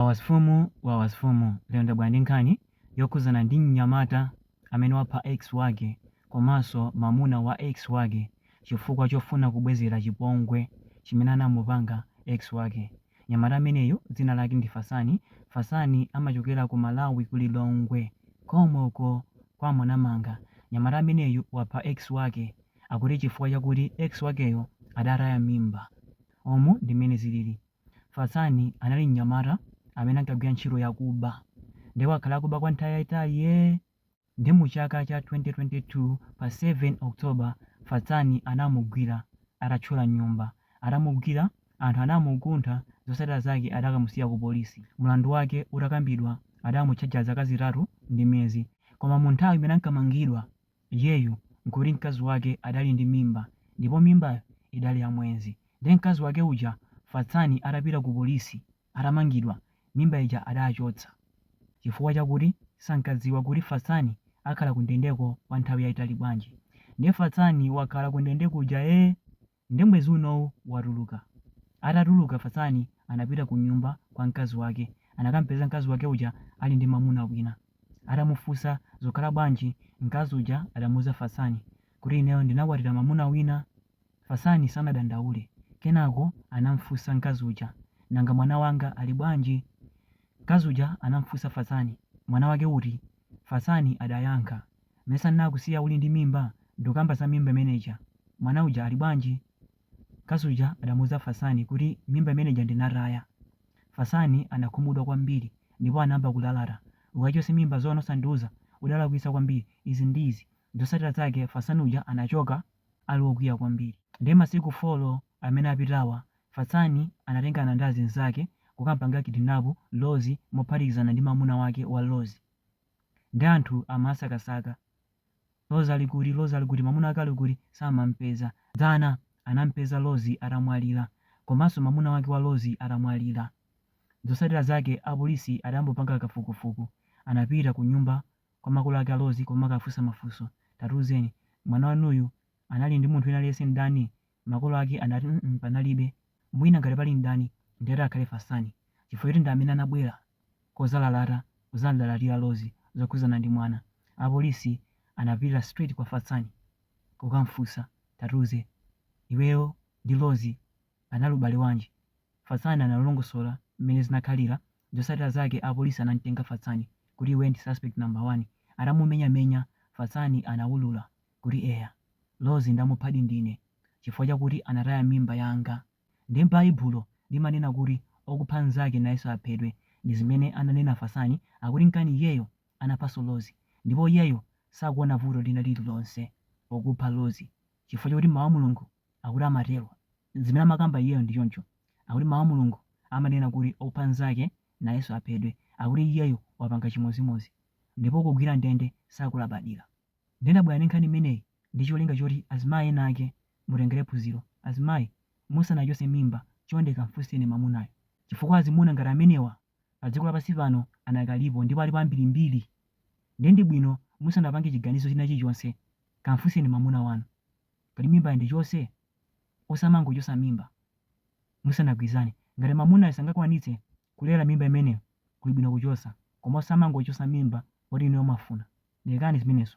Wawa mfumu wawa mfumu lero ndabwera ndi nkhani yokhudzana ndi mnyamata amene wapha ex wake komanso mamuna wa ex wake chifukwa chofuna kubwezera chipongwe chimene anamupanga ex wake. Mnyamata ameneyu dzina lake ndi Fatsani, Fatsani amachokera ku Malawi ku Lilongwe komweko kwa Mwanamanga. Mnyamata ameneyu wapha ex wake akuti chifukwa chakuti ex wakeyo adataya mimba. Umu ndi mmene zilili. Fatsani anali mnyamata amene ankagwira ntchito yakuba nde wakhala akuba kwa nthawi yayitali yee nde mu chaka cha 2022 pa 7 October Fatsani anamugwira atathyola nyumba atamugwira anthu anamukuntha zotsatira zake adakamusiya ku polisi mlandu wake utakambidwa adamutchaja zaka zitatu ndi miyezi koma mu nthawi imene ankamangidwa iyeyu nkuti mkazi wake adali ndi mimba ndipo mimbayo idali ya mwezi nde mkazi wake uja Fatsani atapita ku polisi atamangidwa mimba ija adachotsa chifukwa chakuti sankadziwa kuti Fatsani akhala kundendeko kwa nthawi yaitali bwanji nde Fatsani wakhala kundende kuja ee Nde mwezi unowu watuluka. Atatuluka Fatsani anapita ku nyumba kwa mkazi wake. Anakampeza mkazi wake uja ali ndi mamuna wina. Atamufunsa zikukhala bwanji mkazi uja adamuuza Fatsani kuti ineyo ndinakwatira mamuna wina. Fatsani sanadandaule. Kenako anamfunsa mkazi uja nanga mwana wanga ali bwanji? Mkazi uja anamfunsa Fatsani mwana wake uti? Fatsani adayankha. Mesa nnakusiya uli ndi mimba ndukamba za mimba imene ija mwana uja ali bwanji? Mkazi uja adamuuza Fatsani kuti mimba imene ija ndinataya. Fatsani anakhumudwa kwambiri ndipo anayamba kulalata ukachotse mimba zoona osandiuza udalakwitsa kwambiri izi ndi izi zotsatira zake Fatsani uja anachoka ali wokwiya kwambiri. Ndiye masiku folo amene apitawa Fatsani anatengana ndi azinzake kukampanga kidnap Rozi mophatikizana ndi mamuna wake wa Rozi. Nde anthu amasakasaka Rozi ali kuti Rozi ali kuti mamuna wake ali kuti samampeza. Dzana anampeza Rozi atamwalira komanso mamuna wake wa Rozi atamwalira. Zotsatira zake apolisi adayamba kupanga kafukufuku anapita kunyumba kwa makolo ake a Rozi kukawafunsa mafunso. Tatiuzeni mwana wanuyu anali ndi munthu wina aliyense mdani Makolo ake anati, mm panalibe, mwina ngati pali mdani ndiye ati akhale Fatsani chifukwa choti ndi amene anabwera kudzalalata kudzamlalatira Rozi zokhudzana ndi mwana. Apolisi anapita straight kwa Fatsani kukamfunsa, tatiuze iweyo ndi Rozi panali ubale wanji? Fatsani analongosola mmene zinakhalira, zotsatira zake apolisi anamtenga Fatsani kuti iwe ndi suspect number one, atamumenyamenya Fatsani anawulula kuti eya, Lozi ndamuphadi ndine chifukwa chakuti anataya mimba yanga nde baibulo limanena kuti okupha nzake nayeso aphedwe ndizimene ananena Fasani akuti nkana iyeyo anaphaso Lozi ndipo iyeyo sakuona vuto lina lililonse pokupha Lozi chifukwa chokuti mau a Mulungu akuti amatelo zimene amakamba iyeyo ndichoncho akuti mau a Mulungu amanena kuti okupha nzake nayeso aphedwe akuti iyeyo wapanga chimozimozi ndipo kugwira ndende sakulabadila Ndinabwera ndi nkhani imeneyi ndi cholinga choti azimayi ena ake mutengere phunziro. Azimayi, musanachotse mimba chonde kamfunseni mwamunayo chifukwa azimuna ngati amenewa pa dziko lapansi pano anakalipo ndipo alipo ambirimbiri nde ndi bwino musanapange chiganizo china chilichonse kamfunseni mwamuna wanu kuti mimbayi ndichotse? Osamangochotsa mimba musanagwirizane ngati mwamunayo sangakwanitse Kulera mimba imeneyo kuli bwino kuchosa koma osamangochosa mimba poti inuyo mwafuna lekani zimenezo.